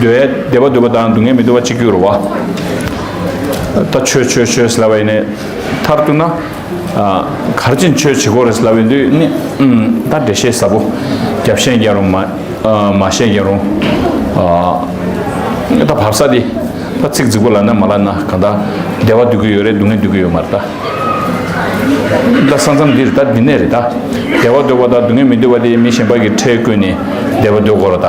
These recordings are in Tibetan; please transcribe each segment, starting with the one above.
འདོད་ཡལ་བདེ་བ་འདོད་པ་དང་སྡུག་བསྔལ་མི་འདོད་པ་གཅིག་གྱུར་བ། ད་ཆོས་ཆོས་ཆོས་ཟེར་སླ་བས་ནི་མཐར་གཏུགས་ན། གར་བྱེད་མཆོད་བྱེད་གོ་རེ་ཟེར་སླ་བས་འདོད་ནི་ད་འགྲེལ་བཤད་ཟབ་བོ། རྒྱབ་བཤད་ཀྱང་རུང་མ་བཤད་ཀྱང་རུང། ད་བབ་ས་དེ་ད་ཚིག་རྫིག་པོ་ལ་ན་མ་ལ་ན་གང་ད་བདེ་བ་འདོད་ཀྱི་ཡོད་རེད་སྡུག་བསྔལ་འདོད་ཀྱི་ཡོད་མ་རེད་ད། ད་ས་མཚམས་འདིར་ད་འདི་ནས་རེད་ད་བདེ་བ་འདོད་པ་དང་སྡུག་བསྔལ་མི་འདོད་པ་དེ་མི་གཞན་པ་གི་ཁྲེལ་བཀོད་ནས་བདེ་བ་འདོད་གོ་ར་ད།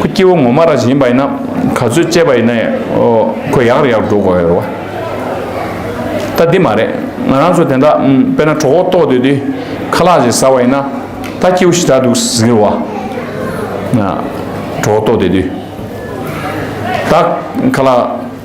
ཁོ་སྐྱེ་བོ་ངོ་མ་རང་བཞིན་ཡིན་པ་ཡིན་ན་ག་ཚོད་དཔྱད་པ་ཡིན་ན་ཁོ་ཡག་རེད་ཡག་འགྲོ་དགོས་རེད་བ། ད་འདི་མ་རེད་ང་རང་ཚོ་དེ་འདྲ་དཔེར་ན་གྲོགས་པོ་ལྟོགས་སྡོད་དུས་ཁ་ལག་ཅིག་ཟ་བ་ཡིན་ན་ད་སྐྱེ་བོ་ཞིག་དྲག་འདུག་ཟེར་རེད་བ། གྲོགས་པོ་ལྟོགས་སྡོད་དུས་ད་ཁ་ལག།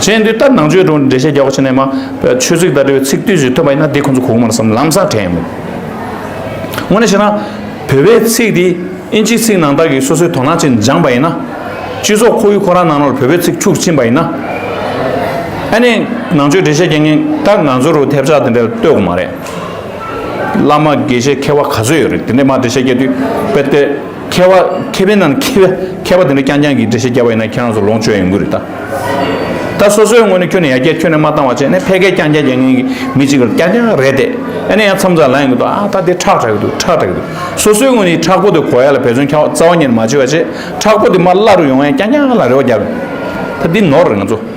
གཞན་དུས་ལྟར་ནང་ཆོས་དྲུང་འབྲེལ་བཤད་རྒྱག་པ་བྱས་ནས་མ་ཆོས་ཚིག་དང་འབྲེལ་བའི་ཚིག་བསྡུས་ཞིག་ཐོན་པ་ཡིན་ན་དེ་ཁོ་ཚོ་གོ་གི་མ་རེད་བསམ་ལམ་སང་དྲན་ཡོང་མོད། ངོ་ནས་བཤད་ན་བོད་པའི་ཚིག་དེ་ཨིན་ཇིའི་ཚིག་ནང་བདག་གིས་སོ་སོའི་དོ་སྣང་བྱེད་སྦྱངས་པ་ཡིན་ན། སྤྱི་ཚོགས་ཁོ་བོས་ཁོ་རང་ནང་ནོར་བོད་པའི་ཚིག་འཁྱུག་ཕྱིན་པ་ཡིན་ན། ཨ་ནེ་ནང་ཆོས་འབྲེལ་བཤད་རྒྱག་མཁན་ད་ང་ཚོ་རུ་ཐེབས་ཆག་དེ་འདྲ་ལྟོས་གོ་མ་རེད། བླ་མ་དགེ་བཤེས་མཁས་བ་ག་ཚོད་ཡོད་རེད་དེ་འདྲས་མ་འབྲེལ་བཤད་རྒྱག་དུས་དཔེ་དེ། མཁས་བ་མཁས་པའི་ནང་ནས་མཁས་པའི་མཁས་པ་དེ་འདྲ་རྐྱང་རྐྱང་གིས་འགྲེལ་བཤད་རྒྱབ་པ་ཡིན་ན་ཁྱེད་རང་ཚོ་ལོངས་སྤྱོད་ཡོང་གི་རེད་ད། ད་སོ་སོའི་ངོས་ནས་ཁྱོད་ནས་ཡར་རྒྱས་ཁྱོད་ནས་མ་བཏང་བ་བྱས་ནས་ཕལ་སྐད་རྐྱང་རྐྱང་རྒྱག་མཁན་གྱི་མི་གཅིག་གིས་རྐྱང་རྐྱང་རེད་དེ། ཨ་ནེ་ཡང་མཚམས་རྩ་ལ་ཡོང་གི་འདུག་ཨ་ད་དེ་ཁྲག་དྲག་གི་འདུག་ཁྲག་དྲག་གི་འདུག་སོ་སོའི་ངོས་ནས་ཁྲག་པོ་དེ་གོ་ཡ་ལ་བེད་བརྩོན་ཁྱག་རྩ་བ་ཉེར་མ་བྱེད་པ་བྱས་ཁྲག་པོ་དེ་མར་བླ་རུ་ཡོང་ཡ་རྐྱང་རྐྱང་ལ་རེ་བ་རྒྱབ། ད་འདི་ནོར་རེད་ང་ཚོ།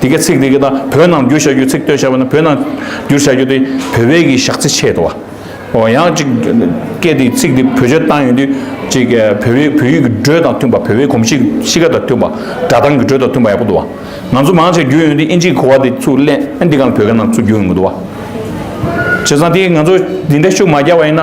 འདི་གའི་ཚིག་འདི་ག་དང་བོད་ནང་བསྒྱུར་བྱ་རྒྱུའི་ཚིག་བཏོད་བྱ་བ་ནི་བོད་ནང་བསྒྱུར་བྱ་རྒྱུ་དེ་བོད་པའི་གི་ཞག་ཚི་ཆད་དོ། ཨོ་ཡང་ཅིག་སྐད་དེ་ཚིག་འདི་བོད་སྤྱོད་བཏང་ཡོད་དུས་ཅིག་ག་བོད་པའི་བོད་ཡིག་གི་འགྲོས་དང་མཐུན་པ་བོད་པའི་གོམས་གཤིས་གཤིས་ཀ་དང་མཐུན་པ་སྒྲ་གདངས་ཀྱི་འགྲོས་དང་མཐུན་པ་ཡག་པོ་འདུག་བ། ང་ཚོ་མང་ཆེ་བསྒྱུར་ཡོད་དུས་ཨིན་ཇིའི་གོ་བ་དེ་ཚུགས་གླེན་ཨེ་འདི་ག་ལ་བོད་སྐད་ནང་ཚུགས་རྒྱུ་ཡོད་མི་འདུག་བ། བྱས་ཙང་དེ་ང་ཚོ་འདི་འདྲའི་ཤུགས་མ་རྒྱག་པ་ཡིན་ན།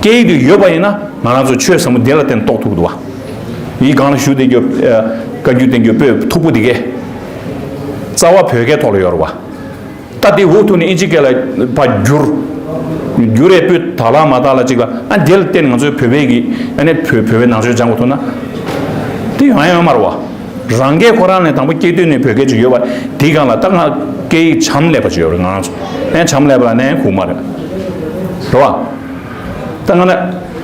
སྐད་ཡིག་དུ་ཡོད་པ་ཡིན་ན་ང་རང་ཚོ་ཆོས་ཟབ་མོ་དེ་ལ་བརྟེན་རྟོགས་ཐུབ་འདུག་བ། ཡིག་གང་ལ་ཞུགས་བདེ་རྒྱུ། བཀའ་བརྒྱུད་བསྟེན་རྒྱུ་པོད་མཐུག་པོ་འདི་གའི། རྩ་བ་བོད་སྐད་ཐོག་ལ་ཡོད་རུ་བ། ད་དེ་འུ་ཐུག་ནས་ཨིན་ཇི་སྐད་ལ་བ་འགྱུར། འགྱུར་རེ་པོད་དག་ལ་མ་དག་ལ་ཅིག་ལ་ཨ་དེ་ལ་བརྟེན་ནས་ང་ཚོའི་བོད་པའི་གི་ཨ་ནེ་བོད་བོད་པའི་ནང་ཆོས་སྦྱང་དགོས་ཐུག་ན། དེ་ཡང་ཡང་མ་རུ་བ། རང་སྐད་ཁོ་རང་ནས་དང་པོ་སྐྱེས་དུས་ནས་བོད་སྐད་ཅིག་ཡོད་པ་དེའི་སྒང་ལ་སྟག་སྔགས་སྐད་ཡིག་བྱམས་ལེགས་པ་ཅིག་ཡོད་རེད་ང་རང་ཚོ་ནས་བྱམས་ལེགས་པ་ལ་ནས་ཁུག་མ་རེད་རེད་བ། ད་ང་ནས་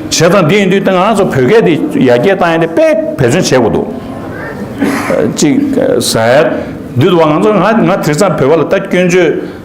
བྱས་ཙང་དེ་ཡིན་དུས་ད་ང་རང་ཚོ་བོད་སྐད་དེ་ཡར་རྒྱས་བཏང་ཡས་དེ་དཔེ་བེད་སྤྱོད་བྱས་དགོས་འདུག་ཅིག་ཟེར་དུས་ད་བ་ང་ཚོ་ང་ང་དེ་ཙང་བོད་པ་ལ་ད་སྐྱོན་བརྗོད་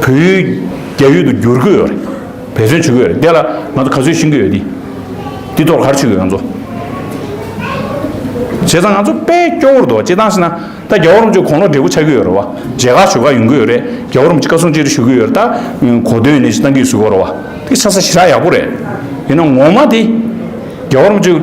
བོད་ཡུལ་རྒྱ་ཡུལ་དུ་བསྒྱུར་གྱི་ཡོད་རེད། བེད་སྤྱོད་བྱེད་ཀྱི་ཡོད་རེད། དེ་ལ་ང་ཚོ་ག་ཚོད་ཤེས་ཀྱི་ཡོད་དེ། དེ་ཐོག་གར་ཆུད་ཡོད་ང་ཚོ། བྱས་ཙང་ང་ཚོ་དཔེ་སྐྱོ་བོར་འདུག་བྱས་ཙང་ཟེར་ན་ད་རྒྱ་བོར་མ་ཆུད་གོང་ལོག་འབྲས་བུ་ཆགས་ཀྱི་ཡོད་རེད་བ། མཇལ་ཁ་ཞུ་ཁ་ཡོང་གི་ཡོད་རེད། རྒྱ་བོར་མ་ཆུད་བཀའ་གསུང་ཅི་རིགས་ཞུ་གི་ཡོད་རེད་ད། གོ་དོན་ནི་ཅི་གཏང་གི་ཟུག་གོ་རེད་བ། དེ་ཆགས་ས་ཞི་དྲག་ཡག་པོ་རེད། ཡིན་ན་ངོ་མ་དེ་རྒྱ་བོར་མ་ཆུད།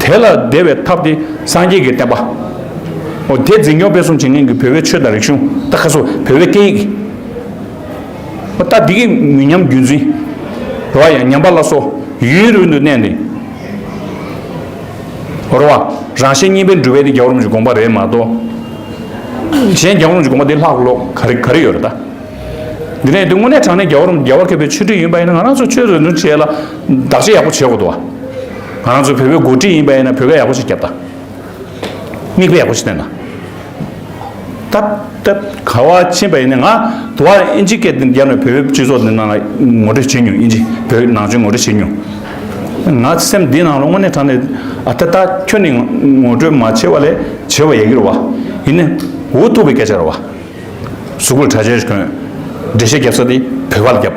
དེ་ལ་བདེ་བའི་ཐབས་ཏེ་སངས་རྒྱས་ཀྱི་བསྟན་པ། འོ་དེ་འཛིན་སྐྱོང་སྤེལ་གསུམ་བྱེད་མཁན་གྱི་བོད་པའི་ཆོས་དང་རིག་གཞུང་ད་ཁ་སོ་བོད་པའི་སྐད་ཡིག། འོ་ད་འདི་གི་མི་ཉམས་རྒྱུན་འཛིན་རོ་ཡ་ཉམས་པ་ལ་སོ་ཡུན་རིང་དུ་གནས་ནས་རོ་བ་རང་ཤེས་གཉིས་པའི་འགྲུལ་བས་དེ་རྒྱ་བོ་རོམ་གྱི་དགོངས་པ་རེད་མ་གཏོགས་གཞན་རྒྱ་བོ་རོམ་གྱི་དགོངས་པ་དེ་ལྷག་གི་ལོག་ག་རེ་ག་རེ་ཡོད་རེད་ད། འདི་ནས་དེ་དངོས་གནས་དྲང་གནས་རྒྱ་བོ་རོམ་རྒྱ་བོ་མཁས་པའི་ཆོས་ཁྲིད་ཡིན་པ་ཡིན་ན་ང་རང་ཚོ་ཆོས་རེ་རེ་བྱས་ལ་བདག་གཅེས་ཡག་པོ་བྱེད་དགོས་དོ། ང་རང་ཚོ་བོད་པའི་འགོ་ཁྲིད་ཡིན་པ་ཡིན་ན་བོད་སྐད་ཡག་པོ་ཞིག་བརྒྱབ་དང། མིག་དཔེ་ཡག་པོ་ཞིག་བསྟན་དང། ཐབས་ཐབས་ག་བ་ཕྱིན་པ་ཡིན་ན་ང་དུ་བ་ཨིན་ཇི་སྐད་འདི་བརྒྱབ་ན་བོད་པའི་སྤྱི་ཚོགས་འདི་ནང་ལ་ངོ་སྤྲོད་བྱེད་མྱོང་ཨིན་ཇི་བོད་ནང་ཆོས་ངོ་སྤྲོད་བྱེད་མྱོང། ང་སེམས་འདི་ནང་ལ་དངོས་གནས་དྲན་ནས་ཨ་ད་ད་ཁྱོད་ནི་ངོ་སྤྲོད་མ་བྱེད་པ་ལས་བྱེད་པ་ཡག་གི་རེད་བ། ཡིན་ནའི་འུ་ཐུག་པའི་སྐད་ཆ་རེད་བ། གཟུགས་པོར་གྲྭ་ཆས་གོན། འགྲེལ་བཤད་བརྒྱབ་ས་དེ་བོད་པ་ལ་བརྒྱབ།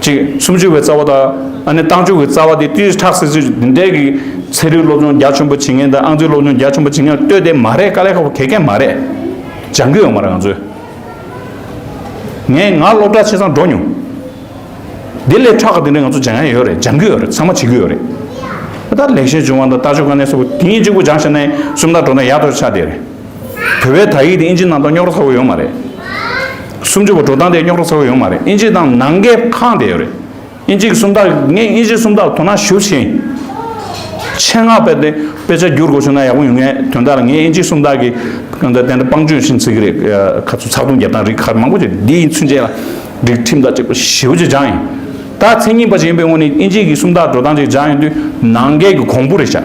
གཅིག། སུམ་ཅུ་བའི་རྩ་བ་དང་ཨ་ནེ་རྟགས་འཇུག་གི་རྩ་བ་དེ་དུས་ཁྲག་སེར་ཚོས་འདི་འདྲའི་གི་ཚན་རིག་སློབ་སྦྱོང་རྒྱ་ཆེན་པོ་བྱེད་མཁན་དང་ཨང་རྩིས་སློབ་སྦྱོང་རྒྱ་ཆེན་པོ་བྱེད་མཁན་ལ་ལྟོས་དེ་མ་རེད་དཀའ་ལས་ཁག་པོ་གལ་གལ་མ་རེད། སྦྱང་གི་ཡོད་མ་རེད་ང་ཚོས། ངས་ང་སློབ་གྲྭ་ཆེ་ཚང་འགྲོ་མྱོང། དེ་སླད་ཁྲག་གི་དེ་འདྲ་ང་ཚོ་སྦྱང་ཡ་ཡོད་རེད་སྦྱང་གི་ཡོད་རེད་ཚང་མ་བྱེད་ཀྱི་ཡོད་རེད། ད་ལེགས་བཤད་སྦྱོང་བ་དང་ལྟ་སྤྱོད་དཀའ་གནད་སོགས་པོ་དེ་གཉིས་གཅིག་པུ་སྦྱང་བྱས་ན་གསུམ་དག་འགྲོ་ན་ཡག་ཏུ་ཆགས་བསྡད་རེད། བོད་པའི་དག་ཡིག་དེ་ཨིན་ཇི་ནང་དང་རྙོག་གྲ་ཚ་བོ་ཡོད་མ་རེད། སུམ་ཅུ་བ་འགྲོ་སྟངས་དེ་རྙོག་གྲ་ཚ་བོ་ཡོད་མ་རེད་ཨིན་ཇི་དང་ནང་གི་ཁང་དེ་ཡོད་རེད། ཨིན་ཇི་གི་སུམ་རྟགས་ངས་ཨིན་ཇི་སུམ་རྟགས་དོ་སྣང་ཞུ་ཕྱིན། ཆེད་མངགས་དཔེ་དེ་དཔེ་ཆ་བསྒྱུར་དགོས་བྱུང་ན་ཡག་པོ་ཡོད་ངའི་དོན་དག་ལ་ངས་ཨིན་ཇི་སུམ་རྟགས་ཀྱི་དོན་དག་དེ་འདྲ་སྤང་སྤྱོད་ཕྱིན་ཚིག་གི་རིགས་ཁ་ཚུ་ཚགས་དུམ་བརྒྱབ་སྟངས་རིགས་ཁག་མང་པོ་ཞིག་འདིའི་ཚུན་ཆད་ལ་སྒྲིག་ཁྲིམས་དག་ཅིག་པ་ཞིབ་པོ་ཅིག་སྦྱངས་ཡིན། ད་མཚན་ཉིད་པ་ཞིག་ཡིན་པའི་ངོས་ནས་ཨིན་ཇི་གི་སུམ་རྟགས་འགྲོ་སྟངས་ཅིག་སྦྱངས་ཡོང་དུས་ནང་འགལ་གྱི་གོང་བུ་རེ་བཞག།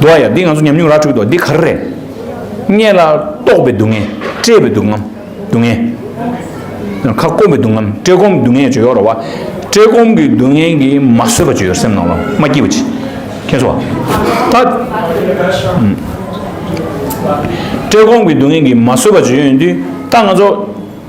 འདུག་ཨ་ཡ་འདི་ང་ཚོ་ཉམས་མྱོང་ར་འཕྲོད་འདུག་འདི་ག་རེ་རེད། མངལ་ལ་ལྟོགས་པའི་སྡུག་བསྔལ། བཀྲེས་པའི་སྡུག་བསྔལ་སྡུག་བསྔལ། ཁ་སྐོམ་པའི་སྡུག་བསྔལ་བཀྲེས་སྐོམ་སྡུག་བསྔལ་བརྗོད་ཡོད་རེད་བ། བཀྲེས་སྐོམ་གྱི་སྡུག་བསྔལ་གྱིས་མ་བཟོད་པ་བརྗོད་ཡོད་སེམས་ནང་ལ་མ་སྐྱིད་པ་ཅི། མཁྱེན་སོང་བ། ད། བཀྲེས་སྐོམ་གྱི་སྡུག་བསྔལ་གྱིས་མ་བཟོད་པ་བརྗོད་ཡོད་དུས་ད་ང་ཚོ།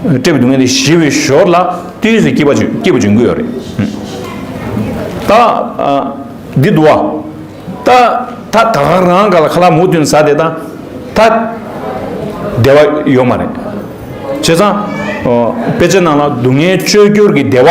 སྤྲད་པའི་སྡུག་བསྔལ་དེ་ཞི་བའི་ཞོར་ལ་ཏིས་སུ་སྐྱེས་པ་སྐྱེས་པ་འབྱུང་གི་ཡོད་རེད། ད་འདི་འདུག་བ། ད་ད་ད་ག་རང་ག་ལ་ཁ་ལག་མུ་སྟོན་ཟ་དེ་ད་ད་བདེ་བ་ཡོད་མ་རེད། བྱས་ཙང་དཔེ་ཆ་ནང་ལ་སྡུག་བསྔལ་བཅོས་བསྒྱུར་གྱི་བདེ་བ།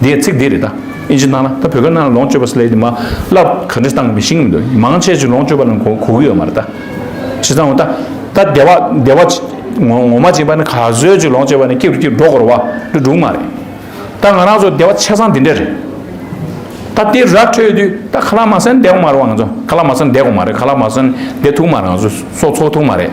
འདིའི་ཚིག་འདི་རེད་ད། ཨིན་ཇི་གནང་ན་ད་བོད་སྐད་གནང་ན་ལོངས་སྤྱོད་པ་སླད་དུ་མ་བསླབ་ག་འདྲི་སྟངས་མི་ཤེས་གི་མི་འདུག་མང་ཆེ་ཆེ་ལོངས་སྤྱོད་པ་ལ་གོ་གོ་གི་ཡོད་མ་རེད་ད། བྱས་ཙང་ངོ་ད་ད་སྡེ་བ་སྡེ་བ་ངོ་ངོ་མ་བྱིན་པ་ནི་ག་ཟོད་ཅིག་ལོངས་སྤྱོད་པ་ནི་སྐྱིད་རུ་སྐྱིད་འགྲོ་གོར་བ་འདི་འགྲུག་མ་རེད་ད་ང་རང་ཚོ་སྡེ་བ་ཆས་ཙང་འདི་འདྲ་རེད། ད་དེ་ར་འཕྲོད་དུས་ད་ག་ལ་མ་སན་འདེ་གོ་མ་རེད་བ་ང་ཚོ་ག་ལ་མ་སན་འདེ་གོ་མ་རེད་ག་ལ་མ་སན་འདེ་ཐུག་མ་རེད་ང་ཚོ་སོ་ཚོགས་ཐུག་མ་རེད།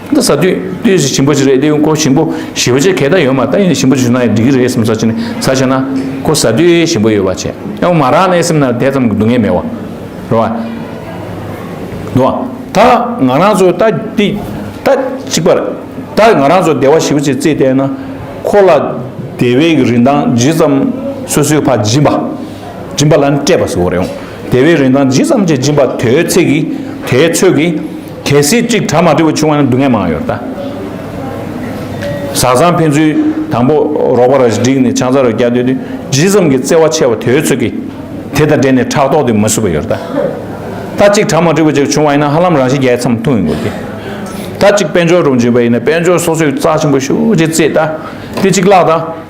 འདི་ཟ་དུས་དུས་ཟིག་ཞིམ་པོ་ཞིག་རེད་དེ་ཁོ་ཞིམ་པོ་ཞིབ་བྱེད་གད་ད་ཡོད་མ་ད་ཡིན་ན་ཞིམ་པོ་ཞིག་གནང་ཡོད་འགྲིག་གི་རེད་སེམས་ས་ཆེ་ནས་ས་ཆེ་ན་ཁོ་ཟ་དུས་ཞིམ་པོ་ཡོད་བ་བྱེད་ཡང་མ་རག་ནས་སེམས་ན་དེ་ཙམ་གྱི་སྡུག་བསྔལ་མེད་བ་རེད་བ། འདུག་བ། ད་ང་རང་ཚོ་ད་འདི་ད་གཅིག་པར་ད་ང་རང་ཚོ་སྡེ་བ་ཞིབ་བྱེད་རྩིས་བལྟས་ན་ཁོ་ལ་སྡེ་བའི་གི་རིན་ཐང་ཇི་ཙམ་སོ་སོའི་ཕ་སྦྱིན་པ་སྦྱིན་པ་ལ་སྤྲད་པ་ཟེར་བ་རེད་འོང་སྡེ་བའི་རིན་ཐང་ཇི་ཙམ་གྱི་སྦྱིན་པ་དེའི་ཚེ་གི་དེའི་ཚོད་ཀྱི་གལ་སྲིད་གཅིག་གྲ་མ་དུལ་བ་བྱུང་བ་ན་སྡུག་བསྔལ་མང་ཡོད་ད། བཟའ་ཟང་ཕན་ཚུན་དང་པོ་རོགས་པ་ར་བཞི་བསྒྲིགས་ནས་ཆང་ཚ་རུ་བསྐྱལ་སྡོད་དུས་ཇི་ཙམ་གྱི་བརྩེ་བ་ཆེ་བ་དེའི་ཚོད་ཀྱིས་དེ་དང་འབྲེལ་ནས་ཕྲག་དོག་དེ་མ་བསུ་བ་ཡོད་ད། ད་གཅིག་གྲ་མ་དུལ་བ་ཅིག་བྱུང་བ་ཡིན་ན་ཧ་ལམ་རང་བཞིན་རྒྱལ་མཚམས་ཐུག་ཡིན་དགོས་ཀྱི། ད་གཅིག་དཔལ་འབྱོར་རུ་འཇུས་པ་ཡིན་ན་དཔལ་འབྱོར་སོ་སོས་རྩ་ཆེན་པོ་ཤུགས་ཀྱིས་བརྩེས་ད་དེ་གཅིག་བརླགས་ད།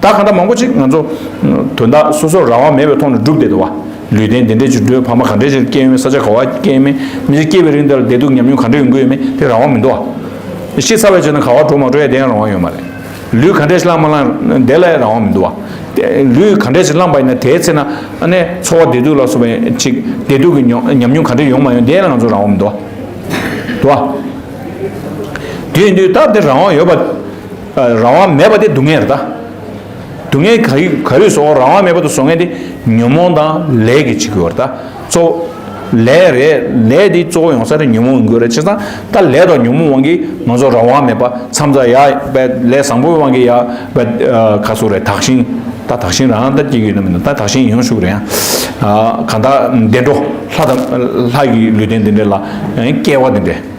ད་གང་འདྲ་མང་པོ་ཅིག་ང་ཚོ། དོན་དག་སོ་སོར་རང་དབང་མེད་པའི་ཐོག་ནས་སྒྲུབ་བསྡད་འདུག་བ། ལུས་རྟེན་འདི་འདྲའི་བྱུས་འགྲོས་ཕ་མ་ག་འདྲའི་ཆེར་སྐྱེས་ཡོད་མེད་ས་ཆ་ག་བ་སྐྱེས་ཡོད་མེད་མི་ཚེ་སྐྱེལ་བའི་རིང་དེར་བདེ་སྡུག་ཉམས་མྱོང་ག་འདྲ་ཡོང་གི་ཡོད་མེད་དེ་རང་དབང་མི་འདུག་བ། ཤི་ཚར་བའི་ཆེད་ན་ག་བ་འགྲོ་མ་འགྲོ་ཡ་དེ་ཡང་རང་དབང་ཡོད་མ་རེད། ལུས་ག་འདྲའི་ཆེ་བླངས་མ་བླངས་དེ་ལ་ཡང་རང་དབང་མི་འདུག་བ། ལུས་ག་འདྲའི་ཆེར་བླངས་པ་ཡིན་ན་དེའི་ཚེ་ན་ནས་འཚོ་བ་བདེ་སྡུག་ལ་སོགས་པའི་ཆིག་བདེ་སྡུག་གི་མྱོང་ཉམས་མྱོང་ག་འདྲ་ཡོང་མ་ཡོང་དེ་ཡང་ང་ཚོར་རང་དབང་མི་འདུག་བ། དུ་བ། དུས་འདི་ལྟར་དེ་རང་དབང་ཡོད་པ། རང་དབང་མེད་པ་དེ་སྡུག་བསྔལ་རེད་ད། སྡུག་བསྔལ་ག་རིགས་ག་རིགས་བཟོ་རང་དབང་མེད་པ་དུ་བཟོ་མཁན་དེ་ཉོན་མོངས་དང་ལས་ཀྱི་བྱེད་དགོས་རེད་ད་གཙོ་བོ། ལས་རེད་ལས་དེ་གཙོ་བོ་ཡོང་ས་རེད་ཉོན་མོངས་ཡིན་དགོས་རེད་བྱས་ཙང་ད་ལས་དང་ཉོན་མོངས་དབང་གིས་ང་ཚོ་རང་དབང་མེད་པ་མཚམས་རྩ་ཡ་བས་ལས་བཟང་པོའི་དབང་གིས་ཡ་བས་ཁ་སོ་རེད་དག་ཞིང་ད་དག་ཞིང་རང་ད་སྐྱེ་གི་ཡོད་ན་མིན་ན་ད་དག་ཞིང་ཡོང་ཤུགས་རེད་ཡ། གང་དག་བདེན་འགྲོ་ལྷ་དང་ལྷ་ཡི་ལུས་རྟེན་འདི་འདྲ་ལ་སྐྱེ་བ་འདི་འདྲ།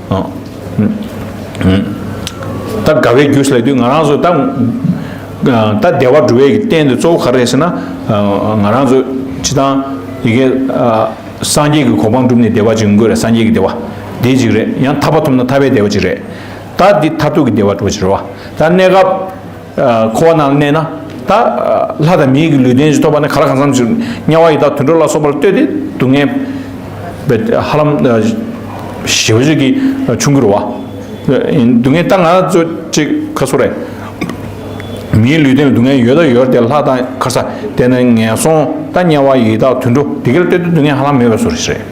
ད་དགའ་བའི་རྒྱུ་ཞིག་ལ་དུས་ང་རང་ཚོ་ད་ད་བདེ་བ་འགྲོ་བའི་རྟེན་དེ་གཙོ་བོ་ག་རེ་ཟེར་ན་ང་རང་ཚོ་ཇི་ལྟར་ཡི་གེ་སངས་རྒྱས་ཀྱི་གོ་འཕང་བསྒྲུབས་ནས་བདེ་བ་ཅིག་ཡོང་དགོས་རེད་སངས་རྒྱས་ཀྱི་བདེ་བ་དེ་ཅིག་རེད་ཡང་ཐར་པ་ཐོབ་ན་ཐར་པའི་བདེ་བ་ཅིག་རེད་ད་འདི་མཐར་ཐུག་གི་བདེ་བ་འགྲོ་བ་ཅིག་རེད་བ་ད་གནས་སྐབས་འཁོར་བ་རྣམས་གནས་ན་ད་ལྷ་དང་མིའི་ལུས་རྟེན་གཞི་ཐོབ་པ་ནི་ག་ལ་གང་འཚམས་ཤིག་དམྱལ་བ་ཡི་དྭགས་དུད་འགྲོ་ལ་སོགས་པར་ལྟོས་ཏེ་སྡུག་བསྔལ་བའི་ཧ་ལམ་ཞི་བ་ཅིག་གིས་ཆུང་གི་རུ་བ། སྡུག་བསྔལ་རྟག་ན་སྩོལ་ཅིག་ཁ་སོ་རེ། མིའི་ལུས་རྟེན་ལ་སྡུག་བསྔལ་ཡོད་ད་ཡོད་དེ་ལྷ་དང་ག་ས་དེ་ན་ངན་སོང་ད་དམྱལ་བ་ཡི་དྭགས་དུད་འགྲོ་དེ་གར་ལྟོས་ཏེ་སྡུག་བསྔལ་ཧ་ལམ་མེད་པས་སོ་རེ།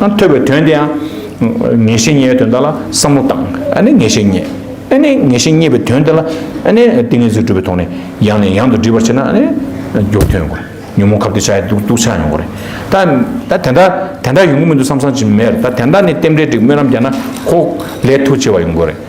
ཡང་ཐོས་པའི་དོན་དེ་ཡང། ངེས་ཤེས་རྙེད་པའི་དོན་དག་ལ་བསམ་བློ་བཏང། ཨ་ནི་ངེས་ཤེས་རྙེད། ཨ་ནི་ངེས་ཤེས་རྙེད་པའི་དོན་དེ་ལ། ཨ་ནི་ཏིང་ངེ་འཛིན་གྲུབ་པའི་ཐོག་ནས་ཡང་ནས་ཡང་དུ་འདྲིས་པར་བྱེད་ན་ཨ་ནི། འགྱུར་ཐོན་དགོས། ཉོན་མོངས་ཁབ་སྟེགས་ཆགས་ཡོད་དུག་དུག་ཆགས་ཡོང་གི་རེད། ད་དེ་འདྲ་དེ་འདྲ་ཡོང་གི་མི་འདུག་བསམ་བསམ་ཅི་མེད་རེད། ད་དེ་འདྲ་ནི་རྟེན་འབྲེལ་འགྲིག་སྨོན་ལམ་རྒྱག་ན་ཁོག་ལས་ཐུགས་ཆེ་བ་ཡོང་གི་རེད།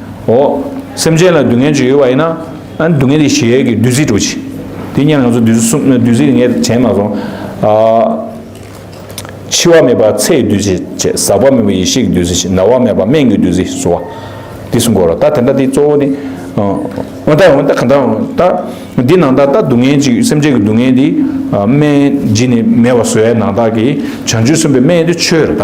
འོ། སེམས་ཅན་ལ་སྡུག་བསྔལ་ཅིག་ཡོད་པ་ཡིན་ན། ཨ་སྡུག་བསྔལ་དེ་གཞལ་ཡས་ཀྱི་བདུད་རྩིས་དྲོ་ཅིག། དེ་གཉེར་ན་ང་ཚོ་བདུད་རྩི་གསུམ་ནི་བདུད་རྩི་རེ་ངས་བྱས་མ་སོང། འཆི་བ་མེད་པ་ཚེའི་བདུད་རྩི་བྱས། ཟག་པ་མེད་པ་ཡེ་ཤེས་ཀྱི་བདུད་རྩི་བྱས། ན་བ་མེད་པ་སྨན་གྱི་བདུད་རྩི་བསུ་བ། དེ་སུ་འགོར་རོ། ད་དེ་འདྲ་དེ་གཙོ་བོ་ནི། འོན་ཏེ་འོན་ཏེ་གང་ལྟར་འོན་ད། འདི་ནང་ད་ལྟ་སྡུག་བསྔལ་ཅིག་སེམས་ཅན་གྱི་སྡུག་བསྔལ་འདི། སྨན་སྦྱིན་ནི་མེད་པར་བཟོ་བའི་ནང་ད་ཀྱི། བྱང་ཆུབ་སེམས་དཔའི་སྨན་དེ་ཆོས་རེ་ད།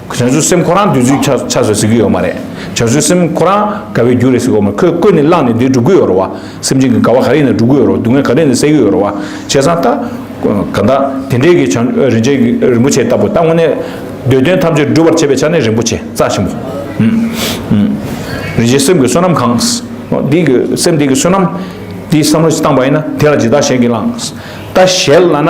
བྱང་ཆུབ་སེམས་ཁོ་རང་དུས་ཚོད་ཆགས་ཆགས་སུ་ཟེར་གྱི་ཡོད་མ་རེད་བྱང་ཆུབ་སེམས་ཁོ་རང་དགའ་བའི་རྒྱུ་རེད་ཟེར་གོ་མ་ཁོས་བཀོད་ནས་བླངས་ནས་འདི་སྒྲུབ་གི་ཡོད་རེད་བ་སེམས་ཅན་གྱི་དགའ་བ་ག་རེ་ཡིན་ན་སྒྲུབ་གི་ཡོད་རེད་བ་སྡུག་བསྔལ་ག་རེ་ཡིན་ན་སེལ་གྱི་ཡོད་རེད་བ་བྱས་ཙང་ད་གང་ད་དེ་འདྲའི་གི་བྱང་རིན་ཆེན་གྱི་རིན་པོ་ཆེ་ལྟ་བུ་ད་དངོས་གནས་འདོད་དོན་ཐམས་ཅད་སྒྲུབ་པར་བྱེད་པའི་ཆ་ནས་རིན་པོ་ཆེ་རྩ་ཆེན་པོ་རིན་ཆེན་སེམས་ཀྱི་བསོད་ནམས་གང་འདི་གི་སེམས་འདི་གི་བསོད་ནམས་འདིས་བསམ་བློ་བཏང་བ་ཡིན་ན་དེ་ལ་ཇི་ལྟར་གཞན་གྱིས་བླངས་ད་གཞན་ལ་ན་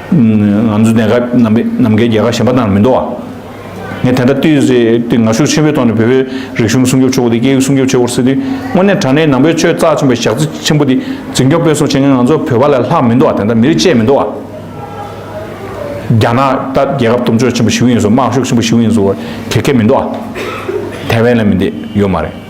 ང་ཚོ་གནད་འགག་ནམ་མཁའི་རྒྱལ་ཁ་ཞན་པ་དང་མི་འདོ་བ། ངས་དེ་འདྲ་བལྟོས་ཟེར་དུས་ངར་ཤུགས་ཆེན་པོའི་ཐོག་ནས་བོད་པའི་རིག་གཞུང་སྲུང་སྐྱོབ་ཆོག་གོ་དེ་སྐད་ཡིག་སྲུང་སྐྱོབ་ཆོག་གོ་ཟེར་དུས་དངོས་གནས་དྲ་གནས་ནང་པའི་ཆོས་རྩ་ཆེན་པོ་ཞག་རྩི་ཆེན་པོ་འདི་འཛིན་སྐྱོང་སྤེལ་གསུང་བྱེད་མཁན་ང་ཚོ་བོད་པ་ལས་ལྷག་མི་འདོ་བ་དེ་འདྲ་མི་རིགས་གཅེས་མི་འདོ་བ། རྒྱ་ནག་ལྟར་རྒྱལ་ཁབ་གཏུམ་སྤྱོད་ཆེན་པོ་ཞིག་ཡིན་བཟོ་དམག་ཤུགས་ཆེན་པོ་ཞིག་ཡིན་བཟོ་བ་དེ་སྐད་མི་འདོ་བ། ཐའེ་ཝན་ལ་མི་འདི་ཡོད་མ་རེད།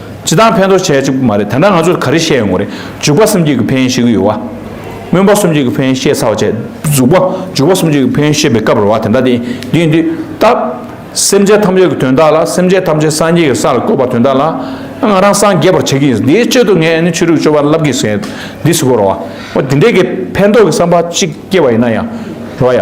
ཇི་ལྟར་ཕན་ཐོགས་བྱས་ཅིག་པུ་མ་རེད་དེ་འདྲ་ང་ཚོས་ག་རེ་བཤད་ཡོང་གི་རེད་འཇུག་པ་གསུམ་གྱིས་ཀྱི་ཕན་ཤེས་ཀྱི་ཡོད་བ། སྨོན་པ་གསུམ་གྱིས་ཀྱི་ཕན་ཤེས་ཚར་བ་བྱས་འཇུག་པ་འཇུག་པ་གསུམ་གྱིས་ཀྱི་ཕན་ཤེས་པའི་སྐབས་རེད་བ་དེ་འདྲ་དེ་དུས་འདི་སྟབས། སེམས་ཅད་ཐམས་ཅད་ཀྱི་དོན་དག་ལ་སེམས་ཅད་ཐམས་ཅད་སངས་རྒྱས་ཀྱི་ས་ལ་བཀོད་པ་དོན་དག་ལ་ང་རང་སངས་རྒྱས་པར་བྱེད་ཀྱི་འདིའི་སྤྱོད་དུ་ངས་ནི་ཆོས་དྲུག་སྤྱོད་པ་བསླབ་ཀྱི་ཟེར་འདི་སུ་གོ་རེད་བ། འོ་དེ་འདྲས་ཀྱི་ཕན་ཐོགས་ཀྱི་བསམ་པ་གཅིག་སྐྱེས་པ་ཡིན་ན་ཡང་རེད་བ་ཡ།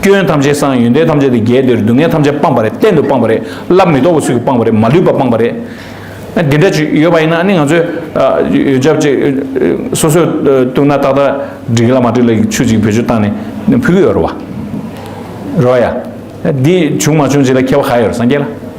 སྐྱོན་ཐམས་ཅད་སངས་ཡོན་ཏན་ཐམས་ཅད་དུ་རྒྱས་འདིར་སྡུག་བསྔལ་ཐམས་ཅད་སྤངས་པ་རེད་གཏན་དུ་སྤངས་པ་རེད་སླར་མི་ལྡོག་པའི་ཚུལ་གྱིས་སྤངས་པ་རེད་མ་ལུས་པ་སྤངས་པ་རེད། འདི་འདྲ་ཅིག་ཡོད་པ་ཡིན་ན་ནི་ང་ཚོས་ཡོན་ཆབ་ཅིག་སོ་སོས་བཏུང་ན་ཏག་ཏག་འགྲིག་གི་ལ་མ་འགྲིག་ལ་ཆུ་ཅིག་བེད་སྤྱོད་བཏང་ནས་ཕུལ་གི་ཡོད་རེད་བ། རེད་བ་ཡ། འདི་བྱུང་མ་བྱུང་བྱས་ལ་ཁྱད་པ་ག་ཡོད་རེད་སངས་རྒྱས་ལ།